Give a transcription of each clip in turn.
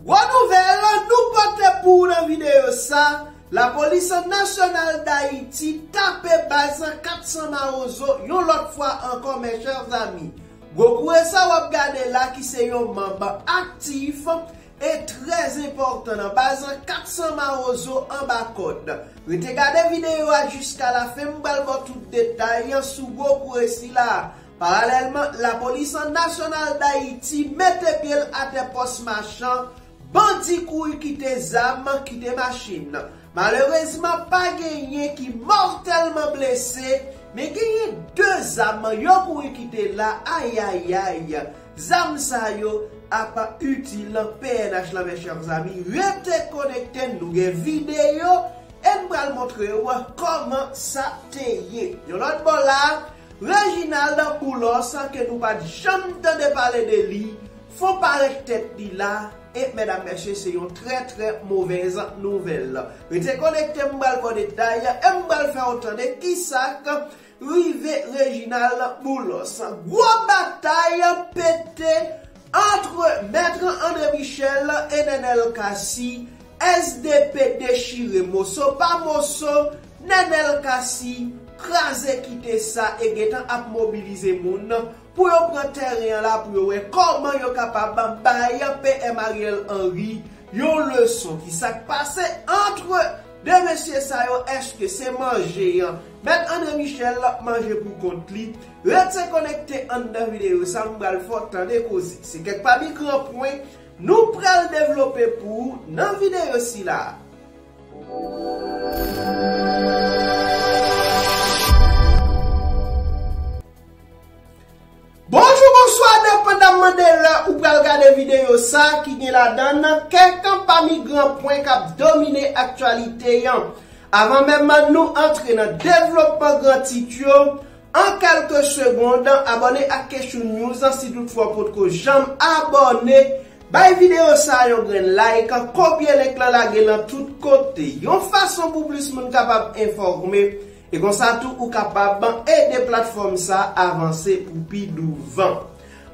Gwo nouvèl nou pote pou ou nan videyo sa, Lapolis Nasyonal Dayiti tape baz 400 mawozo yon lòt fwa ankò mes chers amis. Gwo kouwè sa wap gade la ki se yon manb aktif e trè enpòtan nan baz 400 mawozo anba kòd. Rete gade videyo a jiska lafen m pral baw tout detay sou gwo kouwè sila. Paralèlman, lapolis an nasyonal Dayiti mete pye l atè pòs Machan, bandi kouri kite zam, kite machin. Malerezman pa genyen ki mòtèlman blese, men genyen 2 zam yo kouri kite la ayayay, zam sa yo ap itil pnh la mes chers amis, rete konekte nou gen videyo e m pral montre w kòman sa te ye. Yon lòt bò la. Reginald Boulos ke nou pat janm tande pale de li, fon parèt tèt li la, e medam mesye se yon trè trè movèz nouvèl. Rete konekte m pral baw detay, e m pral fèw tande kisak rive Reginald Boulos. Gwo batay pete antre Maître André Michel e Nenel Cassy, SDP dechire moso pa moso, Nenel Cassy kraze kite sa e gentan ap mobilize moun pou yo pran tèren an la pou yo wè kòman yo kapab bay PM Ariel Henry yon leson. Ki sa k pase antre 2 mesye sa yo? Èske se manje an Mèt Andre Michel manje pou kont li? Rete konekte anndan videyo sa m pral fè w tande koze. Se kèk pami gran pwen Nou pral devlope pou ou nan videyo sila a. Bonjou bonswa depan dam mande lè ou pral gade videyo sa ki gen ladan n kèk pami gran pwen k ap domine aktyalite an. Avan menm nou antre nan devlopman gran tit yo. An kelke segond, abòne ak Kechou News si tout fwa w potko janm abòne, bay videyo sa yon grenn like, kopye link lan lage lan tout kote, yon fason pou plis moun kapab enfòme, e konsa tou ou kapab ede platfòm sa avanse pou pi douvan.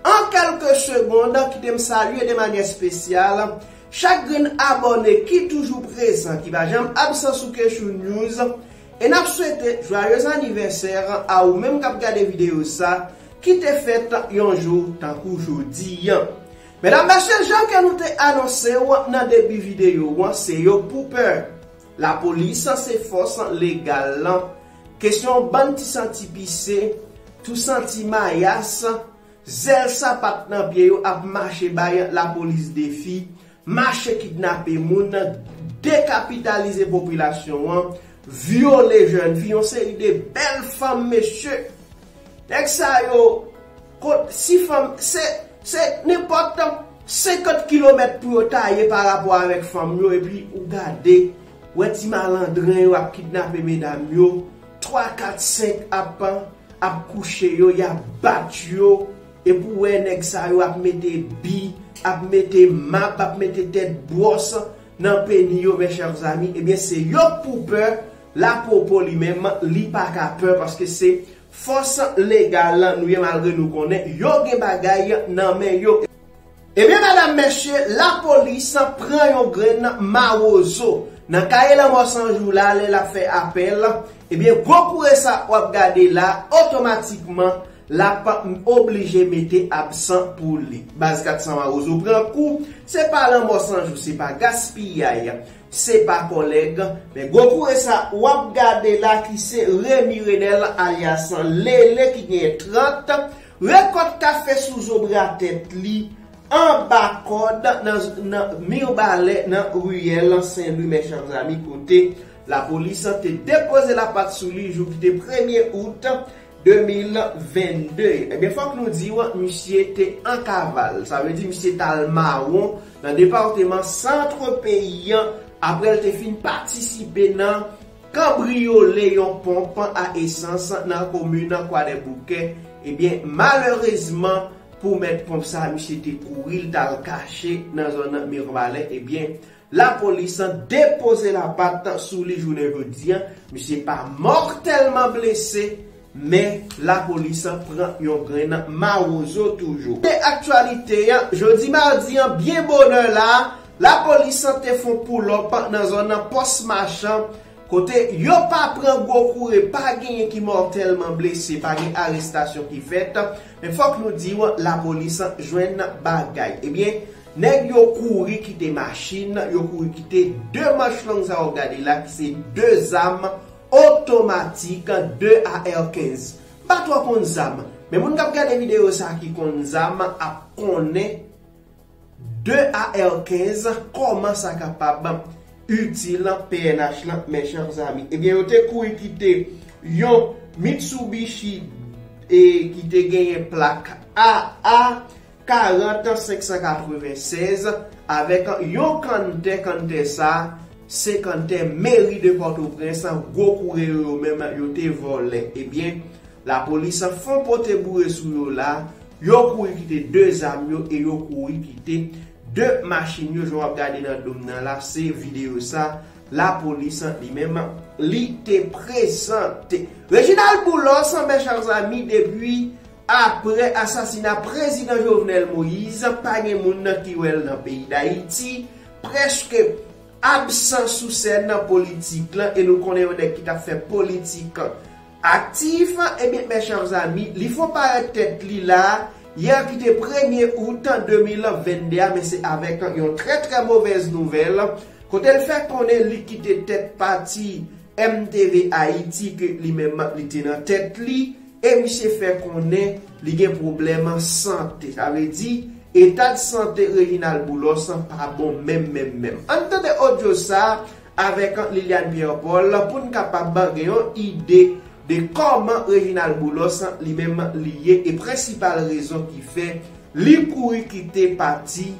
An kelke segond, kite m salye de manyè spesyal, chak grenn abòne ki toujou prezan, ki pa janm absan sou Kechou News, E nap swete joyeux anniversaire a ou menm kap gade video sa ki te fèt yon jou tankou jodi an. Medam mesye jan ke nou te anonsew nan debi video an se yo pou pè. La polis se fòs legal lan. Kesyon bann ti santi pise, tou santi mayas, zèl sapat nan pye yo ap mache bay la polis defi mache kidnape moun, dekapitalize popilasyon an, vyole jèn fi, yon seri de bèl fanm mesye. Nèg sa yo, kot si fanm, se, se nenpòt 50 kilomèt pou yo taye pa rapò avèk fanm yo epi ou gade, wè ti malandren yo ap kidnape medam yo, 3, 4, 5 ap, ap kouche yo, y ap bat yo. Epi ou wè nèg sa yo ap mete bi, ap mete mab, ap mete tèt bwòs nan peni yo mes chers amis, ebyen se yo k pou pè, Lapopo li menm li pa ka pè paske se fòs legal nou ye malgre nou konnen yo gen bagay nan men yo. Ebyen medam mesye la polis pran yon grenn mawozo nan kaye lanmò san jou la lè lap fè apèl ebyen gwo koure sa wap gade la otomatikman lap oblije mete absan pou li baz 400 mawozo pran kou se pa lanmò san jou se pa gaspiyay se pa kòlèg men gwo koure sa wap gade la ki se remi renel alyas lele ki genyen 30. Rekòt kafe sou zo bra tèt li, anba kòd nan Mirbalè nan riyèl Sen Lwi Mècham Zami kote lapolis te depoze lapat sou li jou ki te premye out 2022. Ebyen fòk nou di w misye te an kaval, sa vle di misye t al mawon nan departeman Centre peyi an aprè l te fin patisipe nan. Kanbriyole yon ponp a esans nan komin Kwadèboukè, ebyen malerezman pou mèt ponp sa misye te kouri li tal kache nan zòn Mirbalè ebyen lapolis depoze lapat sou li jounen jodi misye pa mòtèlman blese Men, lapolis pran yon grenn nan mawozo toujou. Nan aktyalite, jodi madi an byen bonè la, lapolis te fon poulòp nan zòn pòs machan, kote yo pa pran gwo koure, pa genyen ki mòtèlman blese, pa gen arestasyon ki fèt, men fòk nou di w lapolis jwenn bagay. Ebyen, nèg yo kouri kite machin, yo kouri kite 2 manch long sa w ap gade la ki se 2 zam, Otomatik 2 AR 15. M pa twò konn zam, men moun kap gade videyo sa ki konn zam ap konnen 2 AR 15 kòman sa kapab itil pnh lan mes chers amis. Ebyen yo te kouri kite yon Mitsubishi e ki te genyen plak AA 40 596 avèk yon kanntè kanntè sa se kanntè meri de pòtoprens gwo koure yo yo menm yo te vòlè ebyen lapolis fon pote boure sou yo la yo kouri kite 2 zam yo e yo kouri kite 2 machin yo jan wap gade nan dom nan la se video sa lapolis li menm li te prezante Reginald Boulos mèchan zanmi depi Aprè asasina prezidan Jovenel Moise pa gen moun nan ki wè l nan peyi Dayiti, prèske absan sou sèn politik lan e nou konnen yon nèg ki t ap fè politik aktif, ebyen mes chers amis li fon parèt tèt li la yè ki te premye out 2022 a men se avèk yon trè trè movèz nouvèl kote l fè konnen li kite tèt pati MTVAyiti ke li menm li te nan tèt li. e misye fè konnen li gen pwoblèm sante. Sa vle di, etad sante Reginald Boulos pa bon menm menm menm. Ann tande odyo sa a avèk Liliane Pierre Paul pou n kapab gen yon ide de kòman Reginald Boulos li menm li ye e prensipal rezon ki fè li kouri kite pati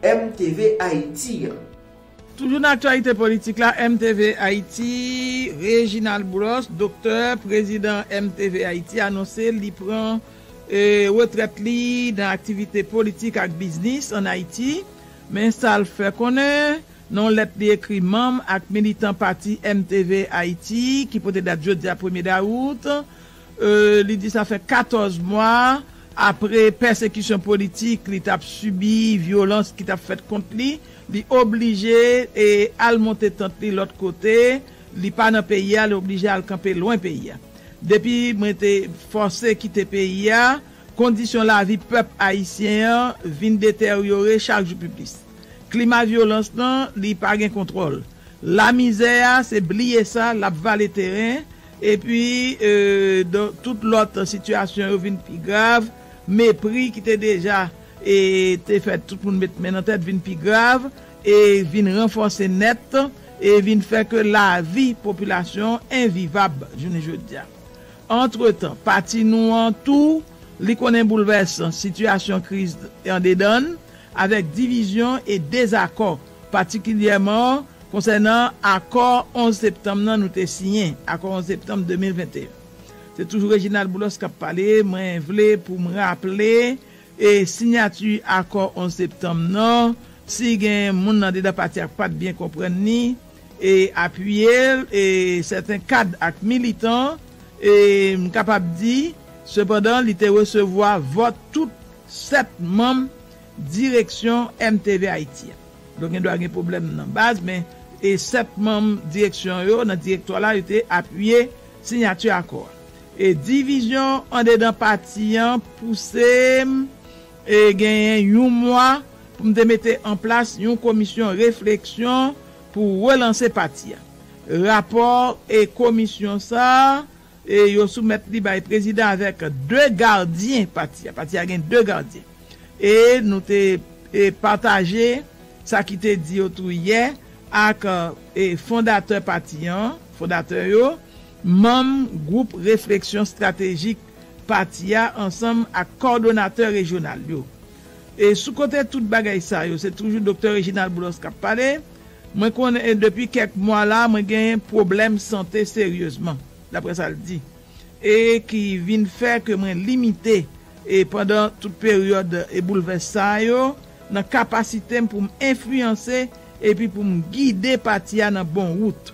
MTVAyiti an. Toujou nan aktyalite politik la, MTV Ayiti, Reginald Brosse, doktè, prezidan MTV Ayiti anonse li pran retrèt li nan aktivite politik ak biznis an Ayiti. Men sa l fè konnen nan yon lèt li ekri manm ak militan pati MTV Ayiti ki pote dat jodi a premye dawout, Li di sa fè 14 mwa apre pèsekisyon politik li t ap sibi, vyolans ki t ap fèt kont li, li oblije al monte tant li lòt kote, li pa nan peyi a, li oblije al kanpe lwen peyi a. Depi mwen te fòse kite peyi a, kondisyon lavi pèp ayisyen an vin deteryore chak jou pi plis. Klima vyolans lan, li pa gen kontwòl. Lamizè a, se bliye sa, l ap vale teren. Epi, dan tout lòt sitiyasyon yo vin pi grav, mepri ki te deja te fè tout moun met men nan tèt vin pi grav e vin ranfòse nèt e vin fè ke lavi popilasyon envivab jounen jodi a. Antretan, pati nou an tou li konnen boulvèsan sitiyasyon kriz andedan n avèk divizyon e dezakò patikilyèman konsènan akò 11 septanm nan nou te siyen, akò 11 septanm 2021. Se toujou Reginald Boulos k ap pale, mwen vle pou m raple e sinyati akò 11 septanm nan, si gen moun andedan pati a k pa t byen konprann ni e apiye l, e sèten kad ak militan, e m kapab di sepandan li te resevwa vòt tout 7 manm. Direksyon MTV Ayiti a. Donk gen dwa gen pwoblèm nan baz men e 7 manm direksyon yo nan direktwa la yo te apiye sinyati akò a. E divizyon andedan pati an pouse m e genyen yon mwa pou m te mete an plas yon komisyon refleksyon pou relanse pati a. Rapò e komisyon sa a e yo soumèt li bay prezidan avèk 2 gadyen pati a. Pati a gen 2 gadyen. E nou te pataje sa ki te di yo tou yè ak fondatè pati an, fondatè yo, manm gwoup refleksyon estratejik pati a ansanm ak kòdonatè rejyonal yo. E sou kote tout bagay sa yo, se toujou Doktè Reginald Boulos k ap pale, Mwen konnen depi kèk mwa la mwen gen pwoblèm sante seryezman, daprè sa l di. e ki vin fè ke mwen limite e pandan tout peryòd e boulvès sa yo nan kapasite m pou m enfliyanse epi pou m gide pati a nan bon wout.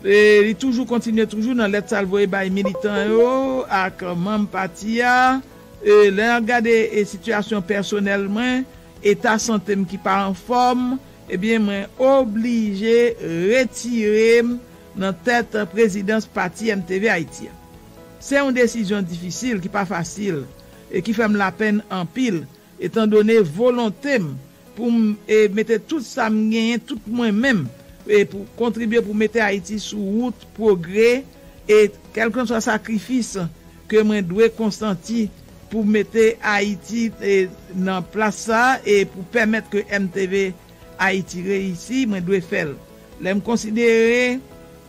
E li toujou kontinye toujou nan lèt sa l voye bay militan yo ak manm pati a, e lè nap gade e sitiyasyon pèsonèl mwen, eta sante m ki pa anfòm, ebyen mwen oblije retire m nan tèt prezidans pati MTV Ayiti a. Se yon desizyon difisil ki pa fasil e ki fè m lapenn anpil etan done volonte m pou m mete tout sa m genyen, tout mwen menm pou kontribye pou mete Ayiti sou wout pwogre e kèlkanswa sakrifis ke mwen dwe konsanti pou mete Ayiti nan plas sa e pou pèmèt ke MTV. Ayiti reyisi, mwen dwe fè l. Lè m konsidere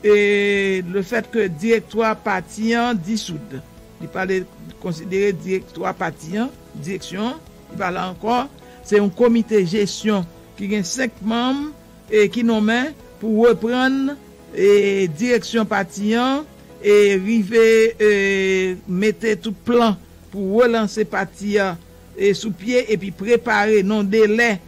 le fèt ke direktwa pati an disoud, li pale konsidere direktwa pati an, direksyon an, li pa la ankò, se yon komite jesyon ki gen 5 manm ki nonmen pou reprann direksyon pati an e rive mete tout plan pou relanse pati a sou pye epi prepare nan delè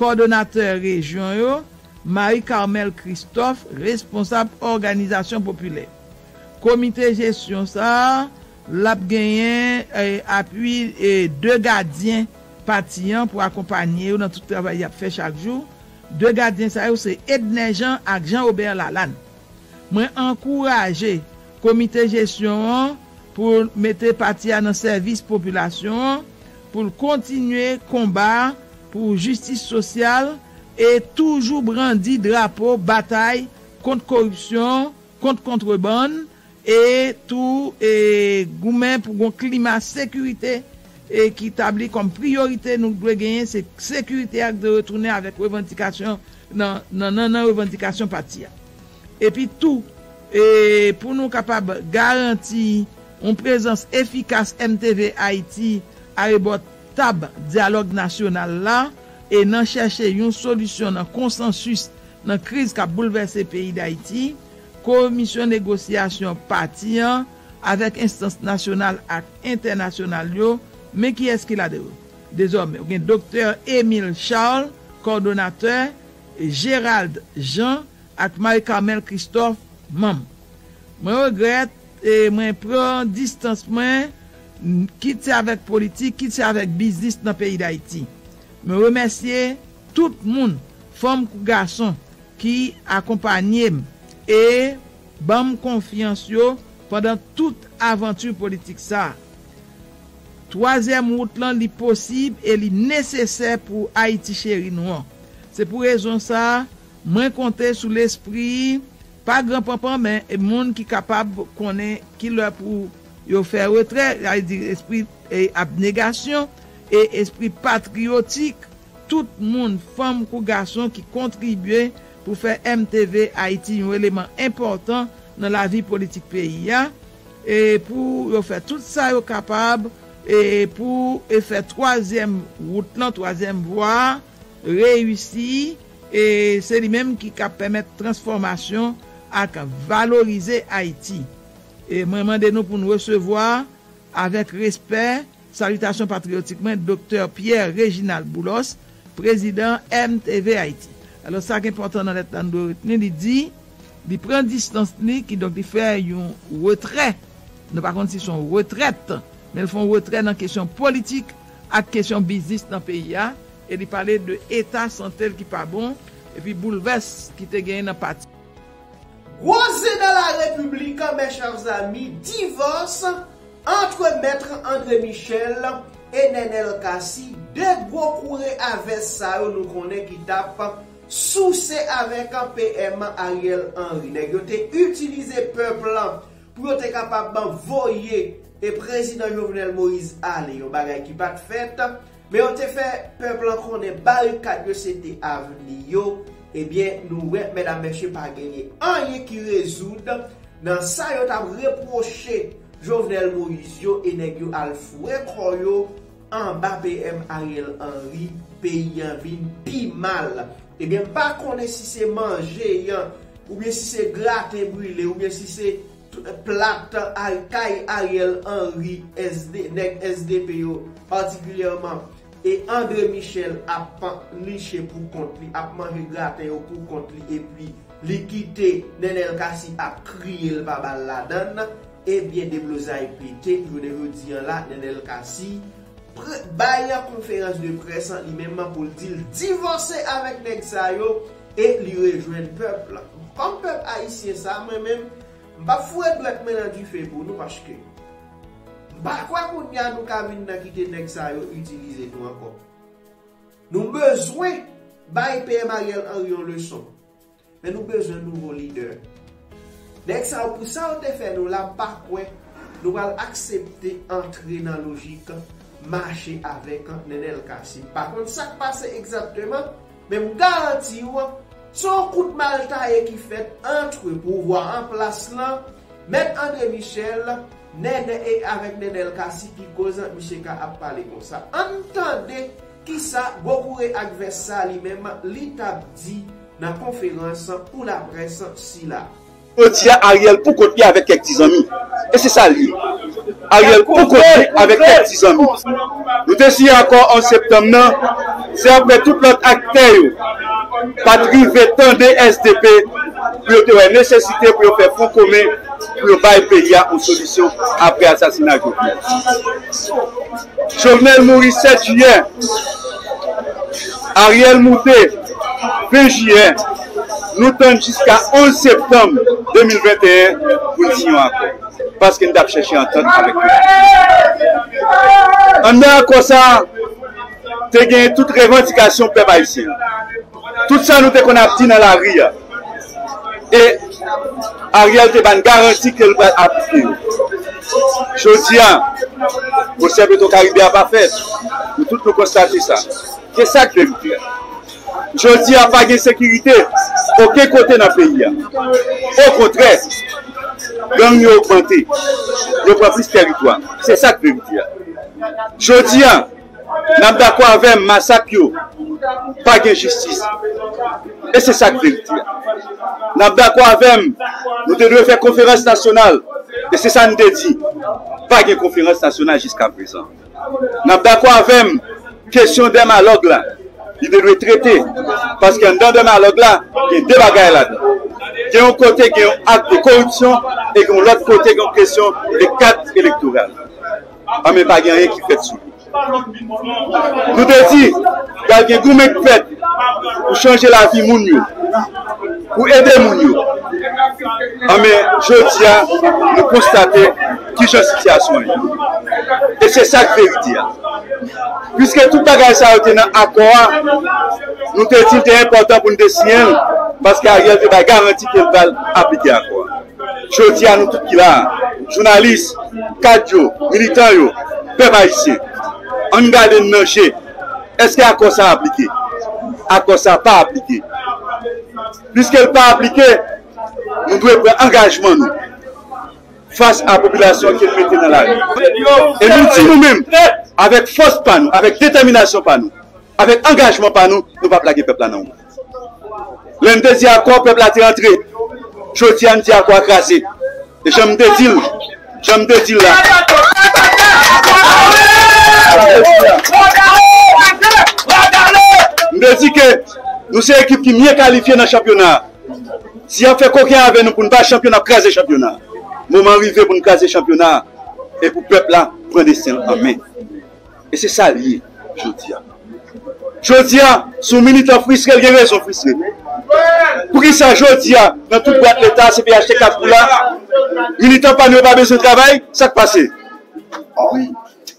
Kòdonatè rejyon yo, Marie Carmelle Christophe, responsab òganizasyon popilè. Komite jesyon sa a, l ap genyen apui 2 gadyen pati an pou akonpanye yo nan tout travay y ap fè chak jou. 2 gadyen sa yo se Edner Jean ak Jean Obert Lalane. Mwen ankouraje komite jesyon an pou l mete pati a nan sèvis popilasyon an, pou l kontinye konba pou jistis sosyal e toujou brandi drapo batay kont koripsyon, kont kontrebann e tou goumen pou gon klima sekirite ki tabli kòm priyorite nou dwe genyen se sekirite a ki dwe retounen avèk revandikasyon nan nannan revandikasyon pati a epi tou pou nou kapab garanti yon prezans efikas MTV Ayiti arebò Tab dyalòg nasyonal la e nan chèche yon solisyon nan konsansis nan kriz kap boulvèse peyi Dayiti, komisyon negosyasyon pati an avèk enstans nasyonal ak entènasyonal yo, men kiyès ki ladan yo? Dezòmè, gen Doktè Emile Charles, kòdonatè, Gerald Jean ak Marie Carmelle Christophe, manm. Mwen regrèt e mwen pran distans mwen kit se avèk politik, kit se avèk biznis nan peyi Dayiti. Mwen remèsye tout moun, fanm kou gason, ki akonpanye m e ban m konfyans yo pandan tout avanti politik sa a. Twazyèm wout lan li posib e li nesesè pou Ayiti cheri nou an. Se pou rezon sa a, mwen konte sou lespri, pa gran panpan men moun ki kapab konnen ki lè pou. Yo fè retrè, sa vle di espri abnegasyon e espri patriyotik tout moun, fanm kou gason, ki kontribye pou fè MTV Ayiti yon eleman enpòtan nan lavi politik peyi a, e pou yo fè tout sa yo kapab pou fè twazyèm wout lan, twazyèm vwa a, reyisi. E se li menm ki kab pèmèt transfòmasyon ak valorize Ayiti. E mwen mande nou pou n resevwa, avèk respè, salitasyon patriyotik mwen, Doktè Pierre Reginald Boulos, prezidan MTV Ayiti. Alò, sa k enpòtan nan lèt la nou dwe retni, li di, li pran distans li, kidonk li fè yon retrè, nou pa konn si s on retrèt, men l fè yon retrè nan kesyon politik ak kesyon biznis nan peyi a, e li pale de eta sante l ki pa bon, epi boulvès ki te genyen nan pati. Gwo zen nan la República mes chers amis, divòs antre Maître André Michel e Nenel Cassy, 2 gwo koure a vès sa yo nou konnen ki tap souse avèk PM Ariel Henry. Nèg yo te itilize pèp lan pou yo te kapab voye Prezidan Jovenel Moïse ale, yon bagay ki pat fèt. Men yo te fè pèp lan konnen barikad yo se te avni yo, ebyen nou wè medam mesye pa genyen anyen ki rezoud nan sa yo tap repwoche Jovenel Moïse yo e nèg yo al fouwe kò yo anba PM Ariel Henry peyi an vin pi mal ebyen m pa konnen si se manje yan oubyen si se graten brile oubyen si se Plat kay Ariel Henry SD nèg SDP yo patikilyèman e Andre Michel ap panliche pou kont li ap manje graten yo pou kont li epi li kite Nenel Cassy ap kriye l pa ba l ladan l ebyen deblozay pete jounen jodi an la Nenel Cassy bay konferans de près li menm pou l di l divòse avèk nèg sa yo E li rejwenn pèp la. Kòm pèp ayisyen sa mwen menm m pap foure dwèt mwen nan dife pou nou paske m pa kwè kounye a nou ka vin nan kite nèg sa yo itilize nou ankò. Nou bezwen bay PM Ariel Henry yon leson. Men nou bezwen nouvo lidè. Nèg sa yo pou sa yo te fè nou la m pa kwè nou pral aksepte antre nan lojik mache avèk Nenel Cassy. M pa konn sak pase egzatteman. Men m garanti w, se yon kout mal taye ki fèt antre pouvwa an plas lan, Mèt Andre Michel, Nènè e avèk Nènèl Cassy ki koz misye ka ap pale konsa. Ann tande kisa Gokure ak vès sa li menm li t ap di nan konferans pou laprès sila. Jodi a Ariel pou kont li avèk kèk ti zanmi. E se sa l ye. Ariel pou kont li avèk kèk ti zanmi. Nou te siyen akò 11 septanm nan, se aprè tout lòt aktè yo pa t rive tande sdp pou yo te wè nesesite pou yo fè fwon komen pou yo bay peyi a yon solisyon aprè asasina Jovenel. Jovenel mouri 7 jiyè, Ariel moute 20 jiyè. nou tann jiska 11 septanm 2021 pou n siyen yon akò, paske n t ap chèche antant avèk Mobutu. Anndan akò sa a, te genyen tout revandikasyon pèp ayisyen an, tout sa nou te konn ap di nan lari a, e Ariel te ba n garanti ke l pral aplike yo. Jodi a, pwosè Petwokaribe a pa fèt, nou tout nou konstate sa. Se sa k dwe m klè. Jodi a pa gen sekirite oken kote nan peyi a. Okontrè, gang yo ogmante, yo pran plis tèritwa. Se sa k verite a. Jodi a, n ap dakò avè m masak yo pa gen jistis. E se sa k verite a. N ap dakò avè m nou te dwe fè konferans nasyonal. E se sa n te di. Pa gen konferans nasyonal jiskaprezan. N ap dakò avè m, kesyon dèmalòg la, li te dwe trete, paske anndan dèmalòg la, gen de bagay ladan. Gen yon kote gen yon ak de koripsyon e gen yon lòt kote gen yon kesyon de kat elektoral. Anben, pa gen anyen ki fèt sou li. Nou te di, pral gen goumen k fèt pou chanje lavi moun yo, pou ede moun yo. Anben, jodi a, nou konstate. Ki jan sitiyasyon an ye? E se sa k verite a. Piske tout bagay sa yo te nan akò a, nou te di l te enpòtan pou n te siyen l, paske Ariel te bay garanti ke l pral aplike akò a. Jodi a nou tout ki la a, jounalis, kad yo, militan yo, pèp ayisyen, an n gade n nan je, èske akò sa a aplike? Akò sa a pa aplike. Piske l pa aplike, nou dwe pran angajman nou. fas a popilasyon ke l mete nan lari. E nou di nou menm, avèk fòs pa nou, avèk detèminasyon pa nou, avèk angajman pa nou, nou p ap lage pèp la nan wonn. Lè n te di akò, pèp la te antre. Jodi a, n di akò a kraze. E jan m te di l, jan m te di l la. M te di ke nou se ekip ki mye kalifye nan chanpyona a. Si y ap fè koken avè nou pou n bay chanpyona, n ap kraze chanpyona a. Moman an rive pou n kraze chanpyona a e pou pèp la pran desten l an men. E se sa l ye jodi a. Jodi a, si yon militan fristre, l gen rezon fristre. Poukisa jodi a, nan tout bwat Leta, cpht, Kafou la, militan pa nou yo pa bezwen travay? Sa k pase?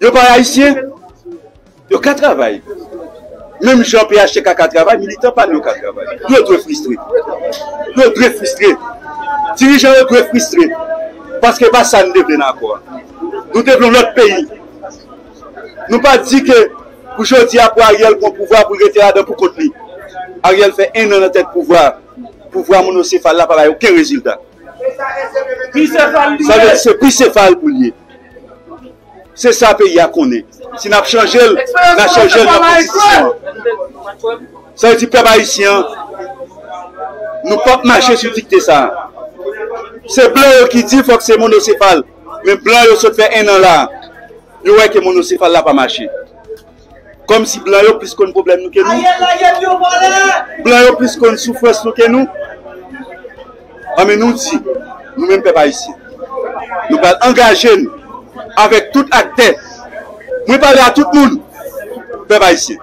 Yo pa Ayisyen? Yo ka travay. Menm jan phtk ka travay, militan pa nou yo ka travay. Yo dwe fristre. Yo dwe fristre. Dirijan yo dwe fristre. Paske e pa sa nou te vle nan akò a. Nou te vle yon lòt peyi. Nou pa di ke pou jodi a pou Ariel pran pouvwa a pou l rete ladan pou kont li. Ariel fè 1 an nan tèt pouvwa a. Pouvwa monosefal la pa bay oken rezilta. Sa vle di se bisefal pou l ye. Se sa peyi a konnen. Si n ap chanje l, n a chanje l nan konstitisyon an. Sa vle di pèp ayisyen an, nou p ap mache sou dikte sa a. Se blan yo ki di fòk se monosefal, men blan yo sot fè ennan la a, yo wè ke monosefal la pa mache. Kòm si blan yo plis konn pwoblèm nou ke nou. Blan yo plis konn soufrans nou ke nou. An men nou di, nou menm pèp ayisyen, nou pral angaje n avèk tout aktè. Mwen pale a tout moun, pèp ayisyen.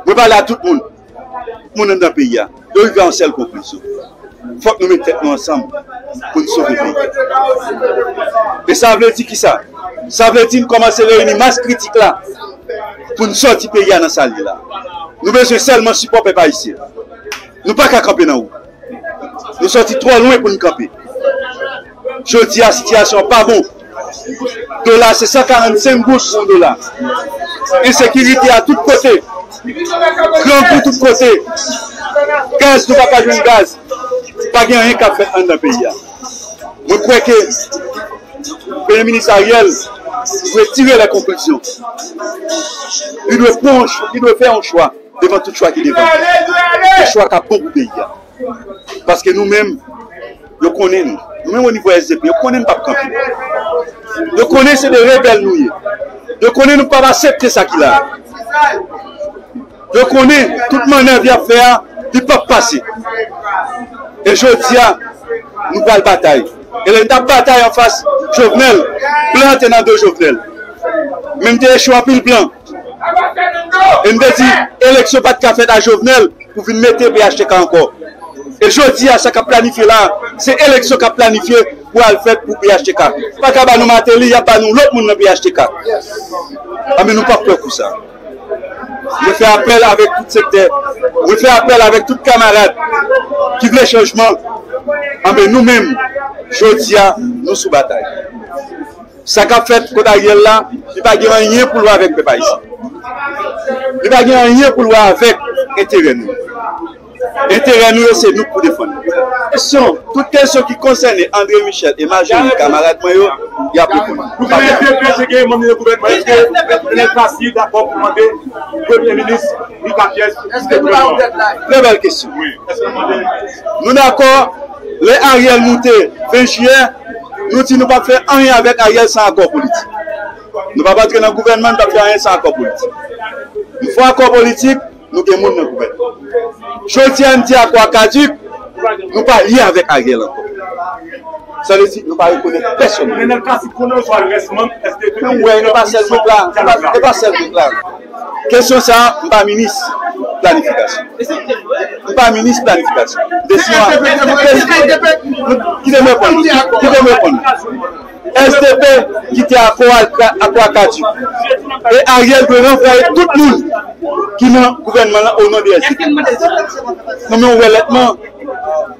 Mwen pale a tout moun. moun anndan peyi a, yo rive a yon sèl konklizyon, fòk nou met tèt nou ansanm pou n sove peyi a. E sa vle di kisa? Sa vle di n kòmanse reyini mas kritik la pou n sòti peyi a nan sa l ye la. Nou bezwen sèlman sipò pèp ayisyen. Nou pa ka kanpe nan wout. Nou sòti twò lwen pou n kanpe. Jodi a sitiyasyon an pa bon. Dola a se 145 gouds pou yon dola. Ensekirite a tout kote. Grangou tout kote. Gaz nou pa ka jwenn gaz. Pa gen anyen k ap fèt anndan peyi a. Mwen kwè ke Premye Minis Ariel dwe tire lè konklizyon. Li dwe fè yon chwa devan tout chwa ki devan li. Yon chwa k ap bon pou peyi a. Paske nou menm, yo konnen nou. Nou menm onivo SDP, yo konnen nou pap kanpe. Yo konnen se de rebèl nou ye. Yo konnen nou pap asepte sa ki la. Yo konnen tout manèv yap fè a, li pap pase. E jodi a, nou pral batay. E lè nou tap batay anfas Jovenel, blan te nan do Jovenel. Men nou te echwe anpil blan. E m te di eleksyon pa t ka fèt a Jovenel pou vin mete phtk ankò. E jodi a sa k ap planifye la a, se eleksyon k ap planifye pou al fèt pou phtk. Pa ka ba nou Martelly, y ap ba nou lòt moun nan phtk. Anben nou p ap pè pou sa. Mwen fè apèl avèk tout sektè, mwen fè apèl avèk tout kamarad ki vle chanjman. Anben nou menm, jodi a nou sou batay. Sa kap fèt kot Ariel la, li pa gen anyen pou l wè avèk pèp ayisyen. Li pa gen anyen pou l wè avèk enterè nou. Enterè nou yo se nou k pou defann. Kesyon, tout kesyon ki konsène André Michel e majori kamarad mwen yo, y ap reponn. Nou pa gen de pye se gen manm yon gouvènman eske Plenel Plasy dakò pou mande premye minis Rita Pierce kite gouvènman an? Trè bèl kesyon. Nou dakò lè Ariel moute 20 jiyè. Nou di nou pap fè anyen avèk Ariel san akò politik. Nou pap antre nan gouvènman, nou pap fè anyen san akò politik. Nou fè akò politik, nou gen moun nan gouvènman. Jodi a nou di akò a kaduk, nou pa lye avèk Ariel ankò. Sa vle di nou pa rekonèt pèsonn. Ou wè, e pa sèl gwoup la. Kesyon sa a, m pa minis planifikasyon. M pa minis planifikasyon. Kesyon a, kite m reponn nou. Kite m reponn nou. SDP kite akò a a kwa kadi. E Ariel dwe ranvwaye tout moun ki nan gouvènman lan o non de SDP. Mwen wè lètman.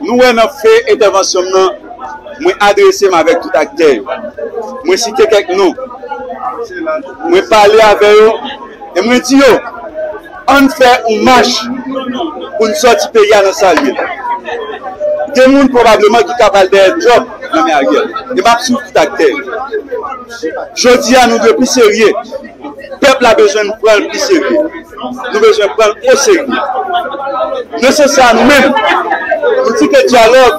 Nou wè nan fen entèvansyon m nan, mwen adrese m avèk tout aktè yo. Mwen site kèk non, mwen pale avè yo e mwen di yo, an n fè yon mach pou n sòti peyi a nan sa l ye la. Gen moun pwobableman ki ka pral dèyè djòb nan men Ariel e m ap swiv tout aktè yo. Jodi a nou dwe pi serye, pèp la bezwen nou pran l pi serye. nou bezwen pran l oserye. Nan sans sa a nou menm, nou di ke dyalòg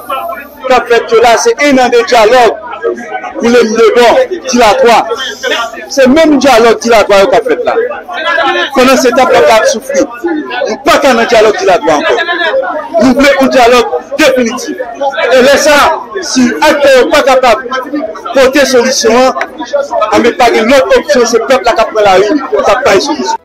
k ap fèt yo la se enande dyalòg Wilem Lebon, dilatwa. Se menm dyalòg dilatwa yo k ap fèt la. Pandan se tan pèp la ap soufri. Nou pa ka nan dyalòg dilatwa ankò. Nou vle yon dyalòg definitif. E lè sa a, si aktè yo pa kapab pote solisyon an, anben pa gen lòt opsyon se pèp la k ap pran lari pou l ta bay solisyon.